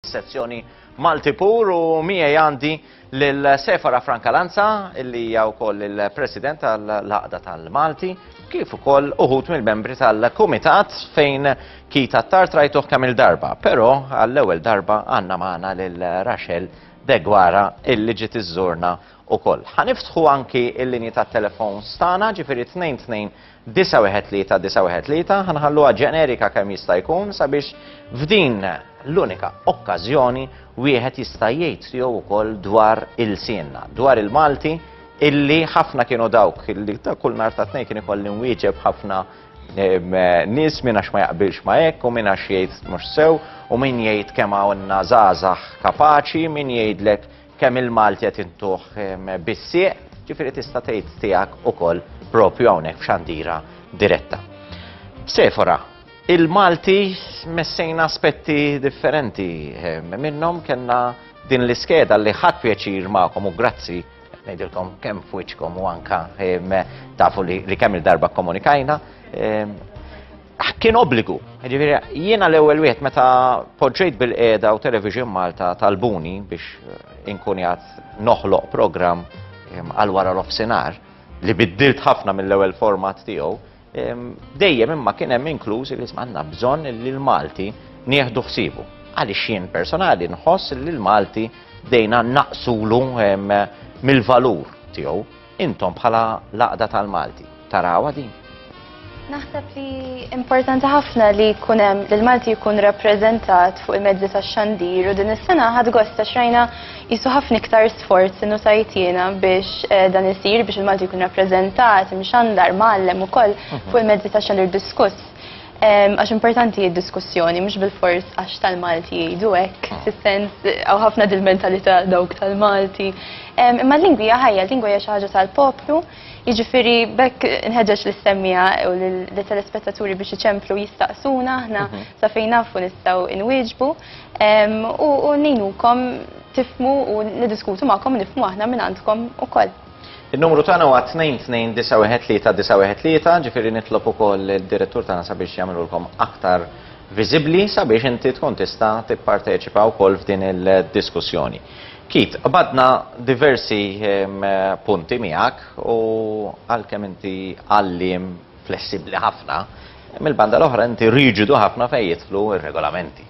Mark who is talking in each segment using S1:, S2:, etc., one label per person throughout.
S1: sezzjoni Malti Pur u miegħi għandi lil Sefara Franka Lanza li hija wkoll il-President tal-Laqda tal-Malti kif ukoll uħut mill-membri tal-Kumitat fejn kita tar trajtuh kemm il-darba, però għall-ewwel darba għandna magħna lil Rachel Degwara illi ġiet iżżurna ukoll. Ħaniftħu anki l-linji tat-telefon stana ġifieri 22 913 913 ħa nħalluha ġenerika kemm jista' jkun sabiex f'din l-unika okkażjoni wieħed jista' jgħid tiegħu wkoll dwar il-sienna, dwar il-Malti illi ħafna kienu dawk illi ta' kull nhar ta' tnejn kien ikolli nwieġeb ħafna nies minn għax ma jaqbilx ma hekk u minn għax jgħid mhux sew u min jgħid kemm hawnna żgħażagħ kapaċi, min jgħidlek Kemm il-Malti qed intuh bis-sieq, ġifieri tista' tgħid tiegħek ukoll propju hawnhekk f'xandira diretta. Sefora, il-Malti messejna aspetti differenti minnhom kellna din l-iskeda li ħadd pjaċir magħkom u grazzi ngħidilkom kemm f'wiċċkom u anke tafu li kemm il-darba kkomunikajna. kien obbligu. Ġifieri jiena l-ewwel wieħed meta poġġejt bil-qiegħda u Television Malta talbuni biex eh, inkun jgħat noħloq programm ehm, għal wara l-offsinar li biddilt ħafna mill-ewwel format tiegħu, ehm, dejjem imma kien hemm inkluż li għandna bżonn li l-Malti nieħdu ħsibu. Għaliex jien personali nħoss li l-Malti dejna naqsulu ehm, mill-valur tiegħu Intom bħala laqda tal-Malti, tarawha din? Naħseb
S2: li importanti ħafna li jkun hemm li l-Malti jkun rappreżentat fuq il-mezzi tax-xandir u din is-sena ħad gosta xrajna jisu ħafna iktar sforz innu tajtina biex eh, dan isir biex il-Malti jkun rappreżentat, mxandar, mallem ukoll mhm. fuq il-mezzi tax-xandir diskuss. Għax importanti id-diskussjoni, mhux bil-fors għax tal-Malti jgħidu hekk, ah. fis-sens għaw ħafna dil-mentalità dawk tal-Malti. Imma l-lingwi ħajja, l-lingwa hija xi ħaġa tal-poplu, jiġifieri bekk nħeġġeġ l-istemmija u l-telespettaturi biex iċemplu jistaqsuna aħna mhm. sa fejn nafu nistgħu inwieġbu u ngħinukom tifmu u niddiskutu magħkom nifmu aħna minn għandkom ukoll. In-numru tagħna
S1: huwa 2291393, ġifieri nitlob ukoll lid-direttur tagħna sabiex jagħmilulkom aktar viżibbli sabiex inti tkun tista' tipparteċipa wkoll f'din il-diskussjoni. Keith, qbadna diversi ehm, punti miegħek u għalkemm inti għalliem flessibbli ħafna, mill-banda l-oħra inti riġidu ħafna fejn jidħlu r-regolamenti.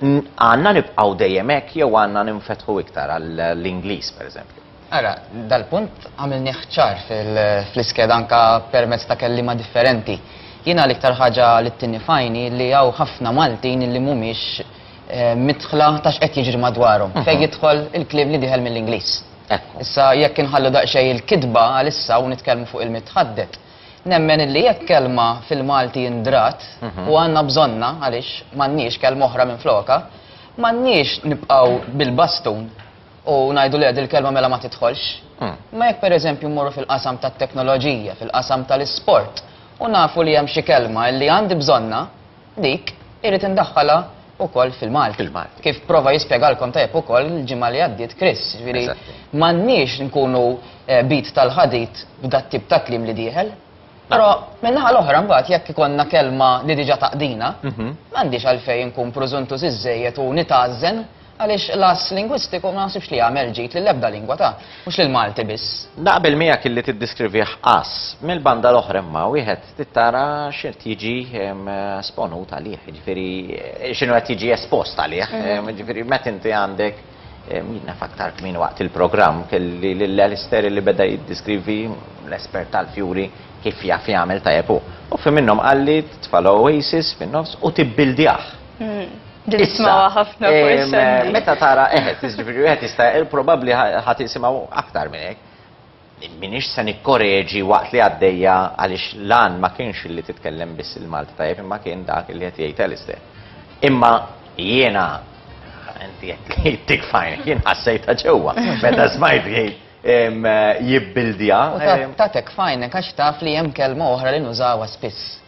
S1: Għandna nibqgħu dejjem hekk jew għandna ninfetħu iktar għall-Ingliż, pereżempju? Ara,
S3: dal-punt għamilnieh ċar fl-iskeda anke permezz ta' kelliema differenti. Jiena l-iktar ħaġa li ttinni f'għajni li hawn ħafna Maltin li mhumiex midħla ta' x'qed jiġri madwarhom fejn jidħol il-kliem li dieħel mill-Ingliż. Issa jekk inħallu daqsxejn il-kitba għalissa u nitkellmu fuq il-mitħadded, Nemmen illi jekk kelma fil-Malti ndrat, u għandna bżonnha għaliex m'għandniex kelma oħra minflokha, m'għandniex nibqgħu bil-bastun u ngħidu le din il-kelma mela ma tidħolx. Imma jekk pereżempju mmorru fil-qasam tat-teknoloġija, fil-qasam tal-isport, u nafu li hemm xi kelma illi għandi bżonnha, Dik irrid indaħħalha wkoll fil-Malti. Fil-Malti. Kif prova jispjegalkom tajjeb ukoll il-ġimgħa li għaddiet Chris. Jiġifieri Eżatti. m'għandniex nkunu eh, bid tal-ħadid b'dat-tip ta' kliem li dieħel. Però min-naħa l-oħra mbagħad jekk ikollna kelma li diġà taqdina, m'għandix għalfejn nkun prużuntuż iżżejjed u nitgħażżen Għaliex l-għażż lingwistiku ma naħsibx li jagħmel ġid lill-ebda lingwa ta', mhux lill-Malti biss. Naqbel miegħek illi
S1: tiddiskrivih għażż. Mill-banda l-oħra imma wieħed trid tara x'qed jiġi sponut għalih, jiġifieri x'inhu qed jiġi espost għalih. Jiġifieri meta inti għandek jien naf aktar kmieni waqt il-programm kelli lil Alistair illi beda jiddiskrivi l-espert tal-fjuri kif jaf jagħmel tajjeb hu. U fi minnhom qalli titfa' l-oasis fin-nofs u tibbildiah.
S2: Dismawa ħafna Meta tara eħed,
S1: tiġifieri wieħed jista' probabbli ħadd isimgħu aktar minn hekk. Minix se nikkoreġi waqt li għaddejja għaliex lan ma kienx li titkellem biss il-Malti tajjeb imma kien dak li qed jgħid Alistair. Imma jiena inti qed li tik fajn, jien ħassejta ġewwa meta smajt jibbildja. Tatek fajn,
S3: għax taf li hemm kelma oħra li nużawha spiss.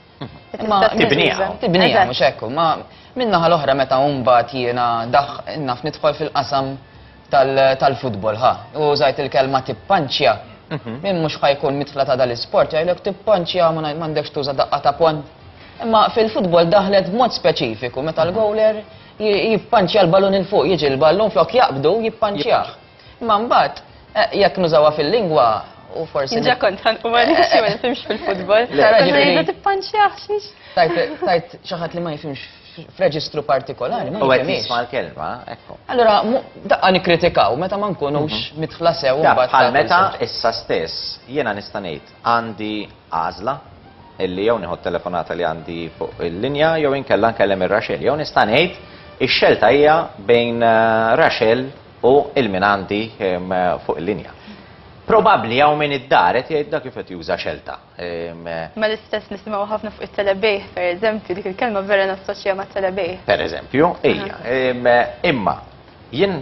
S3: Ma tibniha, tibniha
S1: mhux hekk, ma
S3: minnaħa l-oħra meta mbagħad jiena daħ naf nidħol fil-qasam tal-futbol ħa. U żajt il-kelma tippanċja. Mhm. Min mhux ħajkun mitħla ta' dal-isport jgħidlek tippanċja ma m'għandekx tuża daqqa ta' pon. Imma fil-futbol daħlet b'mod speċifiku meta l-gowler jippanċja l-balun il-fuq, jiġi l-ballun flok jaqbdu jippanċjah. Imma mbagħad jekk nużawha fil-lingwa u forsi. Ġa kont ħanqu ma
S2: nifhimx ma nifhimx fil-futbol. Konna
S3: tippanċjaħ xiex.
S2: Tajt
S3: xi ħadd li ma jifhimx f'reġistru partikolari. U għed jisma
S1: l-kelma,
S3: ekku.
S1: Allora, daqqa
S3: nikritikaw, meta ma nkunux mhm. mitħla sew. Bħal meta
S1: issa
S3: stess,
S1: jena nistanejt, għandi għazla, illi jew nieħu telefonata li għandi fuq il-linja, jew inkella nkellem ir-Raxel. Jew nistanejt, ix-xelta hija bejn eh, Raxel u ilminanti fuq il-linja. Probabbli hawn min id-dar qed jgħidha kif qed juża xelta. Ma
S2: l-istess nisimgħu ħafna fuq it-telebejħ, pereżempju, dik il-kelma vera nassoċja mat-telebejħ. Pereżempju,
S1: hija. Imma jien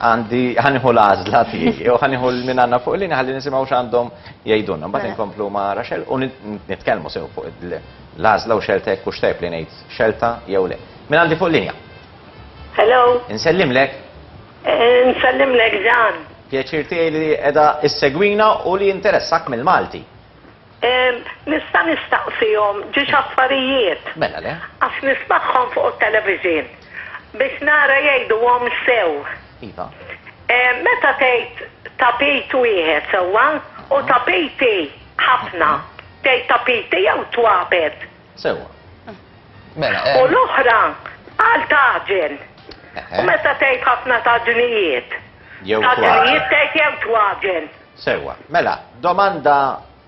S1: għandi ħaniħu l-għażla tiegħi u ħaniħu l-min għandna fuq il-linja ħalli nisimgħu x'għandhom jgħidulna. Mbagħad mela. inkomplu ma' Raxel u nitkellmu sew fuq l-għażla u xelta jekk hux tajb li ngħid xelta jew le. Min għandi fuq il-linja? Hello.
S4: Insellimlek.
S1: Insellimlek
S4: Ġan. Pjaċir tiegħi li
S1: qiegħda issegwina u li jinteressak mill-Malti.
S4: Nista' nistaqsihom ġi x'affarijiet. Mela le. Għax
S1: nismagħhom
S4: fuq it-television biex nara jgħiduhom sew. Iva.
S1: Meta
S4: tgħid tapit wieħed sewwa u tapiti ħafna, tgħid tapiti jew twapet? Sewwa.
S1: Mela,
S3: hemm. U l-oħra
S4: għal tagħġen. Eħe. U meta tgħid ħafna taġnijiet? Jew twaġen.
S1: Taġnijiet tgħid jew
S4: twaġen. Sewwa. Mela,
S1: domanda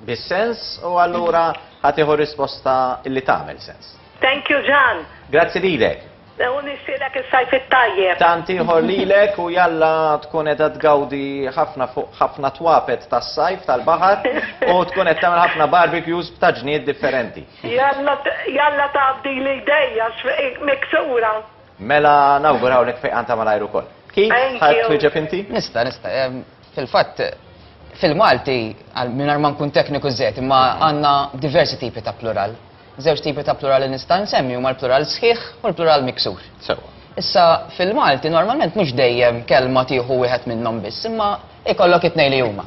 S1: bis-sens u allura ħa tieħu risposta li tagħmel sens. Thank you, Ġan.
S4: Grazzi lilek.
S1: U
S4: nixtieqlek is-Sajf it-Tajjeb! Tant ieħor lilek
S1: u jalla tkun qiegħda tgawdi ħafna fuq ħafna twapet tas-Sajf tal-baħar u tkun qed tagħmel ħafna barbecues b'taġnijiet differenti. Jalla jalla
S4: tgħaddili jdejja x-xfiq miksura. Mela
S1: nawgurawlek fejqan ta' malajr ukoll. Keith, tħarr twieġeb inti? Nista',
S4: nista'.
S3: Fil-fatt, fil-Malti, mingħajr ma nkun tekniku żejjed, imma għandna diversi tipi ta' plural. Żewġ tipi ta' plural li nista' nsemmi huma l-plural sħiħ u l-plural miksur. Sewwa. Issa, fil-Malti normalment mhux dejjem kelma tieħu wieħed minnhom biss, imma jkollok it-tnejn li huma.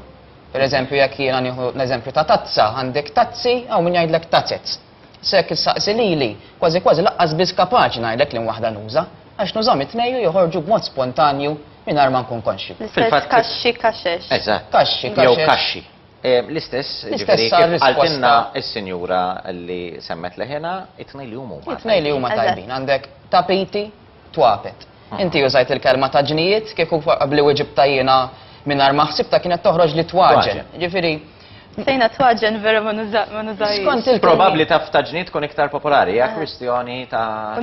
S3: Per eżempju, jekk jiena nieħu l-eżempju ta' tazza, għandek tazzi, hawn min jgħidlek tazets. Issa jekk issaqsi lili, kważi kważi lanqas biss kapaċi ngħidlek liema waħda nuża, għax nużhom it-tnejn u joħorġu b'mod spontanju mingħajr ma nkun konxju. L-istess kaxxi,
S2: kaxex. Eżatt. Kaxxi, kaxex.
S1: Jew kaxxi. L-istess, ġifieri
S3: kif qaltilna s-sinjura li
S1: semmet leħinha, it-tnejn li huma. It-tnejn li huma tajbin,
S3: għandek tapiti, twapet. Inti użajt il-kelma ta' ġnijiet, kieku qabli weġibtha jiena mingħajr ma ħsibtha kienet toħroġ li twaġen. Ġifieri. Sejna
S2: twaġen vera ma nużajx. Skont il Probabbli
S3: taf ta' ġnijiet
S1: tkun iktar popolari, hija kwistjoni ta'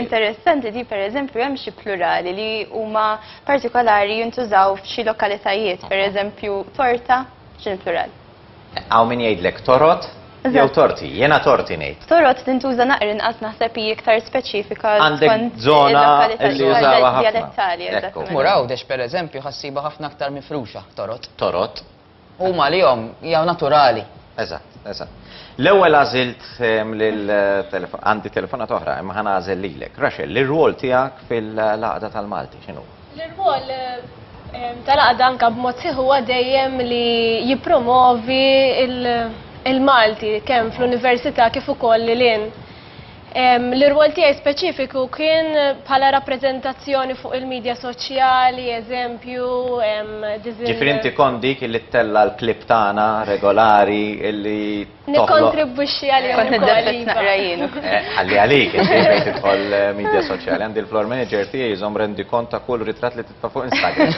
S2: Interessanti
S1: di
S2: pereżempju hemm xi plurali li huma partikolari jintużaw f'xi lokalitajiet, pereżempju torta x'inhi plural? Hawn min
S1: jgħidlek torot jew torti, jiena
S2: torti
S1: ngħid. Torot tintuża naqra
S2: inqas naħseb hi iktar speċifika skont żona li
S1: jużawha ħafna. Tmur
S2: Għawdex pereżempju
S3: ħassibha ħafna aktar mifruxa torot. Torot.
S1: Huma għalihom
S3: jew naturali. Eżatt, eżatt.
S1: L-ewwel għażilt ehm, lil telefon, għandi telefonat oħra, imma ħana għażel lilek. Raxel, l-rwol tiegħek fil-laqda tal-Malti x'inhu? L-irwol
S5: ehm, tal-għaqda anka b'mod sieħu huwa dejjem li jippromovi il-Malti kemm fl-università kif ukoll lil L-irwol tiegħi speċifiku kien bħala rappreżentazzjoni fuq il-midja soċjali, eżempju, diżin.
S1: Ġifieri inti kont dik li ttella' l-clip tagħna regolari li toħloq. Nikkontribwixxi għalihom.
S5: Kont niddepress naqra
S2: jien. Ħalli għalik,
S1: inti tidħol midja soċjali. Għandi l-floor manager tiegħi jżomm rendikont ta' kull ritratt li. Ta' fuq Instagram.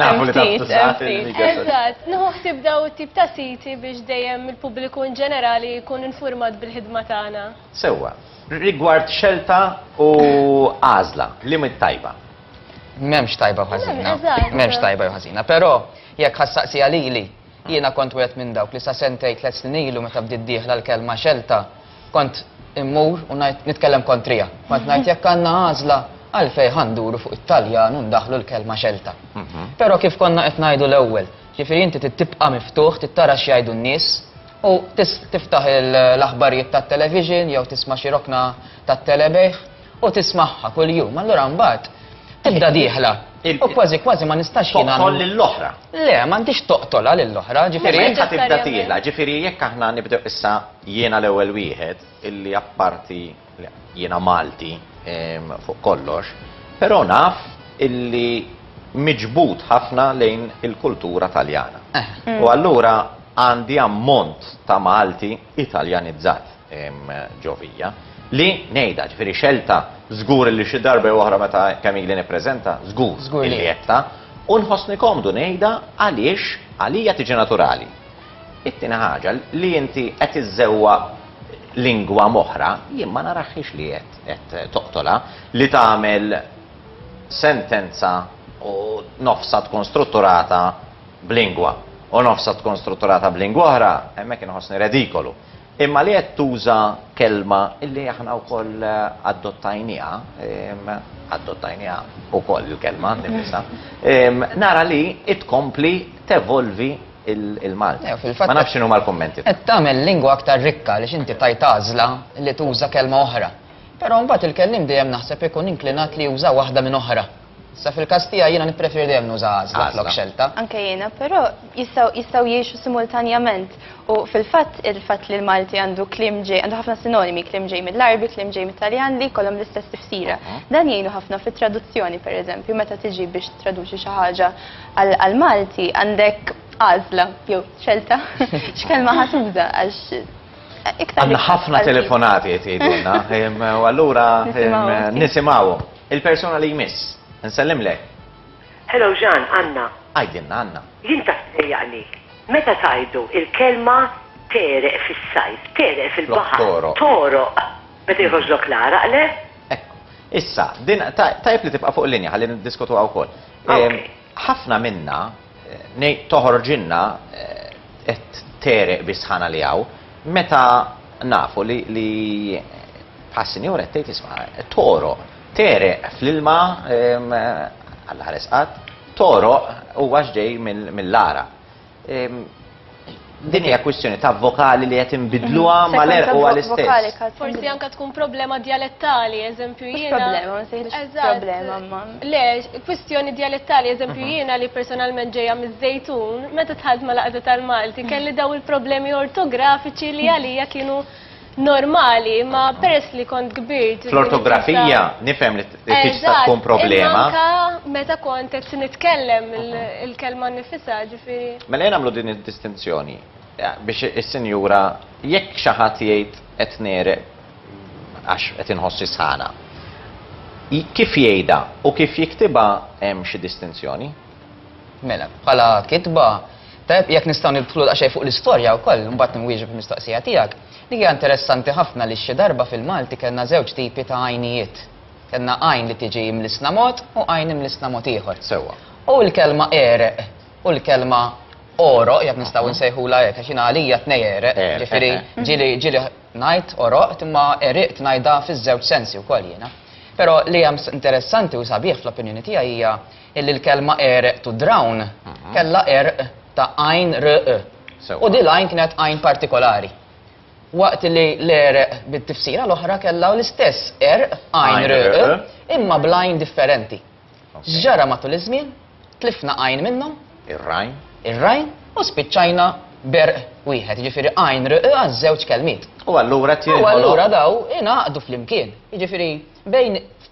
S1: Nafu li
S2: ta' tużat il-media. Eżatt,
S1: nħuħsib daw
S5: it-tip ta' siti biex dejjem il-pubbliku in ġenerali jkun infurmat bil-ħidma tagħna. Sewwa.
S1: Rigward xelta u għażla, liema hi t-tajba? M'hemmx
S3: tajba u ħażina. M'hemmx tajba jew
S5: ħażina.
S3: Però jekk ħa ssaqsiha lili, jiena kont wieħed minn dawk li sa sentejn tliet snin ilu meta bdiet dieħla l-kelma xelta, Kont immur u ngħid nitkellem kontriha. Kont ngħid jekk għandna għażla għalfejn ħa nduru fuq it-Taljan u ndaħħlu l-kelma xelta. Però kif konna qed ngħidu l-ewwel, ġifieri inti trid tibqa' miftuħ, trid tara x'jgħidu n-nies u tiftaħ l-aħbarijiet tat-television jew tisma' xi rokna tat-telebejħ u tismagħha kuljum, allura mbagħad tibda dieħla u kważi kważi ma nistax jien nagħmel. Toqtol lill-oħra.
S1: Le, m'għandix
S3: toqtolha lill-oħra, ġifieri. Mela inti tibda dieħla,
S1: ġifieri jekk aħna nibdew issa jiena l-ewwel wieħed illi apparti jiena Malti ehm, fuq kollox, però naf illi miġbud ħafna lejn il-kultura Taljana. Eh. U allura għandi ammont ta' Malti Italjanizzat. ġovija. Li ngħidha, ġifieri xelta, żgur li xi darba jew oħra meta kemm ili nippreżenta, żgur li għedtha, u nħossni komdu ngħidha għaliex għalija tiġi naturali. It-tieni ħaġa, li inti qed iżżewwa lingwa m'oħra, jien ma narahhiex li qed toqtolha, li tagħmel sentenza u nofsha tkun strutturata b'lingwa u nofsha tkun strutturata b'lingwa oħra, hemmhekk inħossni redikolu. Imma li qed tuża kelma li aħna wkoll adottajniha, adottajniha wkoll il-kelma nnifisha, nara li tkompli tevolvi l-Malti. Ma nafx x'inhuma l-kummenti tiegħek. Qed tagħmel lingwa
S3: aktar rikka għaliex inti tajt għażla li tuża kelma oħra. Però mbagħad il-kelliem dejjem naħseb ikun inklinat li juża waħda minn oħra. Issa fil-każ tiegħi jiena nippreferi dejjem nuża għażla flok xelta. Anke jiena, però
S2: jistgħu jistgħu jgħixu simultanjament u fil-fatt il-fatt li l-Malti għandu kliem ġej, għandu ħafna sinonimi, kliem ġej mill-Arbi, kliem ġej mit-Taljan li jkollhom l-istess tifsira. Mhm. Dan jgħinu ħafna fit-traduzzjoni pereżempju, meta tiġi biex traduċi xi ħaġa għall-Malti għandek għażla jew xelta x'kelma ħatuża għax Għanna ħafna
S1: telefonati jtidunna, u għallura nisimawum. Il-persuna li jmiss. Nsellimlek. Hello
S4: Jean, Anna. Għidilna Anna.
S1: Jien taf tdejjaqni.
S4: Meta tgħidu il-kelma tegħreq fis-sajf, tegħreq fil-baħar. Flok togħroq. Togħroq. Meta jħoġlok l-għaraq, le? Ekku.
S1: Issa, din tajjeb li tibqa' fuq il-linja ħalli niddiskutuha wkoll. Okej. Ħafna minna, ngħid toħorġilna qed tegħreq bis-sħana li hawn, meta nafu li li bħas-Sinjura qed tgħid isma' qed togħroq, tegħreq fl-ilma Alla ħares qatt, togħroq huwa x'ġej mill-għaraq. Din hija kwistjoni ta' vokali li qed inbidluha mm-hmm. mal-erq u għall-istess. Forsi anke tkun
S5: problema dialettali, eżempju jiena.
S2: Problema, ma sejħilx problema ma. Le, kwistjoni
S5: dialettali, eżempju mm-hmm. jiena li personalment ġejja miż-żejtun, meta tħadd ma laqgħda tal-Malti, kelli daw il-problemi ortografiċi li għalija kienu normali, ma peress li kont kbirt. Fl-ortografija,
S1: nifhem li tista tkun problema. Anka meta
S5: kont qed nitkellem il-kelma nifisa, ġifieri. Mela jien għamlu din
S1: id-distinzjoni eh, biex is-sinjura jekk xi ħadd jgħid qed nere għax qed inħossi sħana. Kif jgħidha u kif jiktibha hemm xi distinzjoni? Mela,
S3: bħala kitba, tajjeb jekk nistgħu nidħlu daqsxejn fuq l-istorja wkoll, imbagħad nwieġeb il-mistoqsija tiegħek. Dik hija interessanti ħafna li xi darba fil-Malti kellna żewġ tipi ta' għajnijiet. Kellna għajn li tiġi imlissna mod u għajn imlissna mod ieħor. Sewwa. U l-kelma għereq u l-kelma għoroq, jekk nistgħu nsejħulha hekk, għax jiena għalija tnej għereq, ġifieri ġieli ġieli ngħid għoroqt imma għeriqt ngħidha fiż-żewġ sensi wkoll jiena. Però li hemm interessanti u sabiħ fl-opinjoni tiegħi hija Illi l-kelma għereq to drown mhm. kellha għerq ta' għajn r e. U di l-għajn kienet għajn partikolari. Waqt li l-għereq bit-tifsira l-oħra kellha l-istess għerq għajn r e, e, imma blajn differenti. Ġara matul iż-żmien, tlifna għajn minnhom. Ir-rajn. Ir-rajn u spiċċajna ber wieħed, ġifiri għajn r għaż-żewġ kelmiet. U allura tiegħu. U
S1: allura daw
S3: inaqdu flimkien. Ġifiri bejn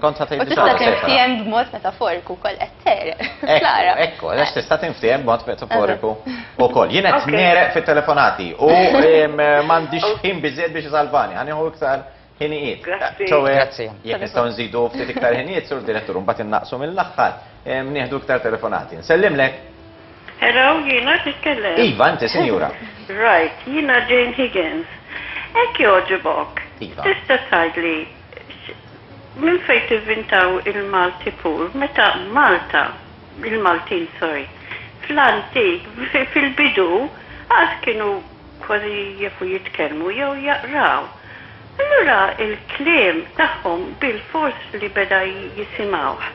S4: Kont ħadd tgħid
S1: tista' tinftiehem
S2: b'mod metaforiku wkoll qed tereq. Klara. Ekku, għax tista'
S1: tinftiehem b'mod metaforiku wkoll. Jien qed nereq fit-telefonati u m'għandix ħin biżejjed biex isalvani. Ħanieħu iktar ħinijiet. Grazzi.
S3: Jekk nistgħu nżidu
S1: ftit iktar ħinijiet, sur direttur, mbagħad innaqsu mill-aħħar, nieħdu iktar telefonati. Nsellimlek. Hello,
S6: jiena qed nitkellem. Iva, inti, sinjura.
S1: Right, jiena
S6: Jane Higgins. Hekk jogħġibok. Iva. Tista'
S1: tgħidli
S6: Minn fejn tivvintaw il-Malti pur, meta Malta, il-Maltin sorry, fl-antik, fil-bidu, qatt kienu kważi jafu jitkellmu jew jaqraw. Allura il-kliem tagħhom bilfors li beda jisimgħuh.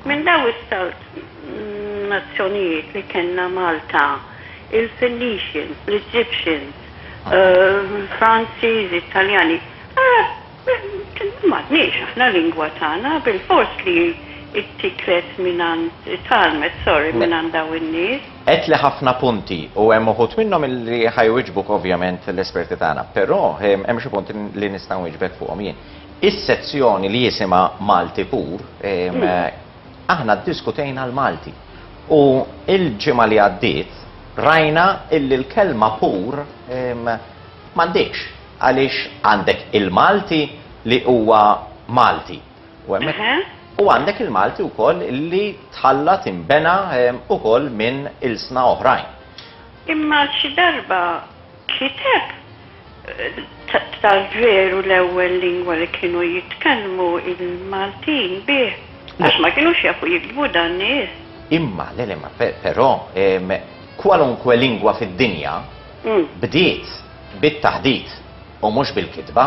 S6: Minn dawn is-salt nazzjonijiet li kellna Malta, il-Phoenicians, l-Egyptians, Franċiżi, Taljani, ara M'għandniex aħna lingwa tagħna, bilfors li ttiklet mingħand, tgħallmet, sorry, mingħand dawn in-nies. Għedtli ħafna
S1: punti u hemm uħud minnhom li ħa jwieġbuk ovvjament l-esperti tagħna, però hemm xi punti li nista' nwieġbek fuqhom jien. Is-sezzjoni li jisimha Malti Pur, aħna ddiskutejna l-Malti u l-ġimgħa li għaddiet rajna illi l-kelma pur m'għandhiex. Għaliex għandek il-Malti li huwa Malti u hemmhekk u għandek il-Malti wkoll li tħallat inbena wkoll minn ilsna oħrajn. Imma
S6: xi darba kiteb tal-veru l-ewwel lingwa li kienu jitkellmu il-Maltin bih? Għax ma kinux jafu jiktbu dan nies. Imma, le le, ma
S1: però kwalunkwe lingwa fid-dinja, bdiet bit-taħdit u mhux bil-kitba,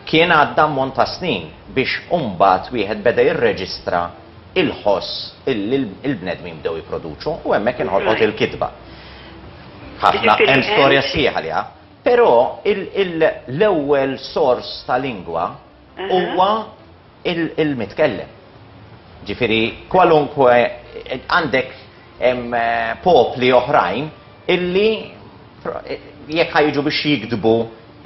S1: kien għadda ammont ta' snin biex mbagħad wieħed beda jirreġistra l-ħoss li l-bnedmin bdew jipproduċu u hemmhekk inħolqot il-kitba. Ħafna, hemm storja sħiħa għaliha. Però l-ewwel sors ta' lingwa, huwa il-mitkellem. Ġifieri kwalunkwe għandek popli oħrajn illi jekk ħajġu biex jiktbu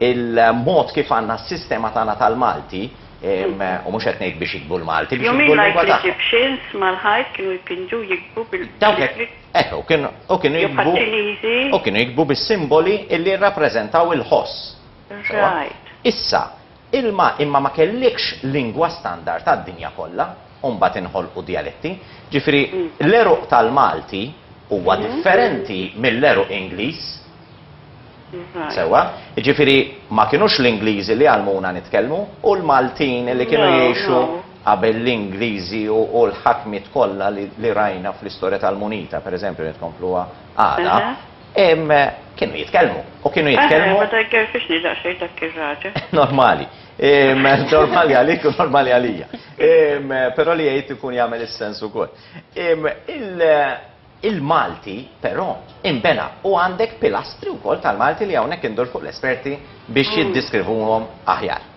S1: il-mod kif għandna s-sistema tagħna tal-Malti, u mhux qed ngħid biex jiktbu l-Malti, biex jiktbu l-lingwa tagħhom. Jew l-Egyptians mal-ħajt
S6: kienu jpinġu jikbu bil. Dawk hekk, hekk,
S1: u kienu jikbu. Jew bħaċ-Ċiniżi. U kienu jikbu bis-simboli illi rrappreżentaw il-ħoss. Right. Issa, Ilma imma ma kellikx lingwa standard għad-dinja kollha u mbagħad inħolqu djaletti. Ġifieri l-għeruq tal-Malti huwa differenti mill-għeruq Ingliż. Sewwa? Jiġifieri ma kinux l-Ingliżi li għallmuna nitkellmu u l-Maltin li kienu jgħixu qabel l-Ingliżi u l-ħakmiet kollha li rajna fl-istorja tal-munita, pereżempju li tkompluha għada, Kienu jitkellmu, u kienu jitkellmu. Ma tajgerfixni
S6: daqsxejn dak ir-raġel. Normali.
S1: Normali għalik u normali għalija. Però li jgħid ikun jagħmel is-sens ukoll. Il-Malti, però, imbena u għandek pilastri wkoll tal-Malti li hawnhekk indur fuq l-esperti biex jiddeskrivuhom aħjar.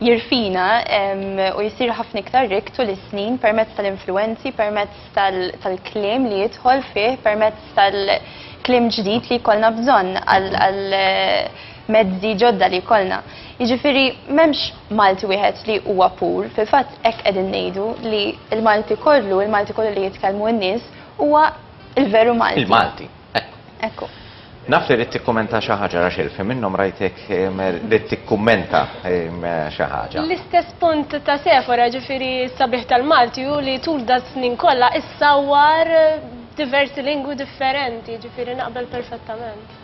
S2: jirfina u jsir ħafna iktar rikk tul is-snin permezz tal-influwenzi, permezz tal-kliem li jidħol fih, permezz tal-kliem ġdid li jkollna bżonn għal mezzi ġodda li jkollna. Jiġifieri m'hemmx Malti wieħed li huwa pur, fil-fatt hekk qegħdin ngħidu li l-Malti kollu, il-Malti kollu li jitkellmu n-nies huwa l-veru Malti. Il-Malti.
S1: Ekku.
S2: Naf li rrid
S1: tikkumenta xi ħaġa Raxel, fi minnhom rajtek li tikkummenta xi ħaġa. L-istess punt ta'
S5: Sefora ġifieri s-sabiħ tal-Malti u li tul da snin kollha issawwar diversi lingwi differenti, ġifieri naqbel perfettament.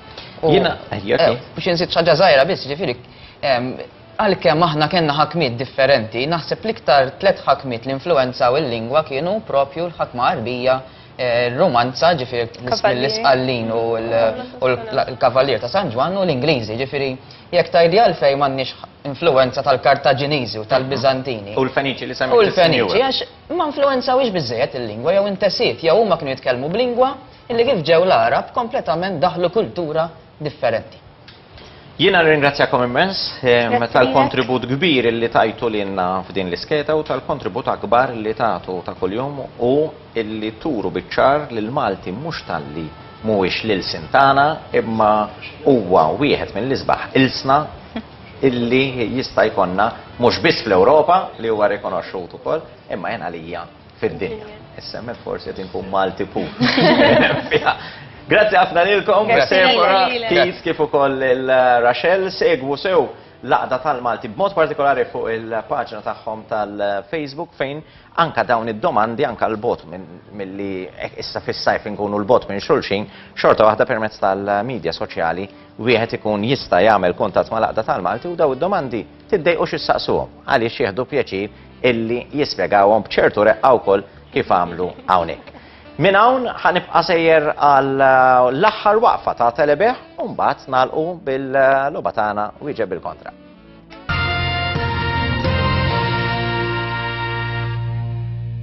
S5: Jiena
S1: biex inżid
S3: ħaġa żgħira biss, ġifieri għalkemm aħna kellna ħakmiet differenti, naħseb l-iktar tliet ħakmiet li influwenzaw il-lingwa kienu propju l-ħakma Għarbija romanza ġifiri l-isqallin u l-kavalier ta' San Ġwan u l-Ingliżi ġifiri jek tajdi għalfej mannix influenza tal-Kartaġiniżi u tal-Bizantini. U l-Feniċi li semmi. U
S1: l-Feniċi għax
S3: ma influenza wix bizzejet il-lingwa jew intesiet jew huma kienu jitkellmu b'lingwa illi kif ġew l-Arab kompletament daħlu kultura differenti. Jiena
S1: nirringrazzjakom immens tal-kontribut kbir li tajtu lilna f'din l-iskeda u tal-kontribut akbar li tagħtu ta' kuljum u li turu biċ-ċar li l-Malti mhux talli mhuwiex l-ilsien tagħna imma huwa wieħed mill-isbaħ ilsna li jista' jkollna mhux biss fl-Ewropa li huwa rikonoxxut ukoll imma jien għalija Fid-dinja. Issa me forsi qed inkun Malti pu. Grazzi ħafna lilkom, Sephora, Keith kif ukoll il-Rachel segwu sew laqda tal-Malti b'mod partikolari fuq il-paġna tagħhom tal-Facebook fejn anka dawn id-domandi anka l-bot milli issa fis-sajf inkunu l-bot minn xulxin xorta waħda permezz tal-medja soċjali wieħed ikun jista' jagħmel kuntatt ma' laqda tal-Malti u daw id-domandi Tiddejqux issaqsuhom għaliex jieħdu pjaċir illi jispjegawhom b'ċertu reqqa wkoll kif għamlu hawnhekk. Minn hawn ħa nibqa' sejjer għal l-aħħar waqfa ta' Telebeħ u mbagħad nagħlqu bil-logħba tagħna wieġeb bil-kontra.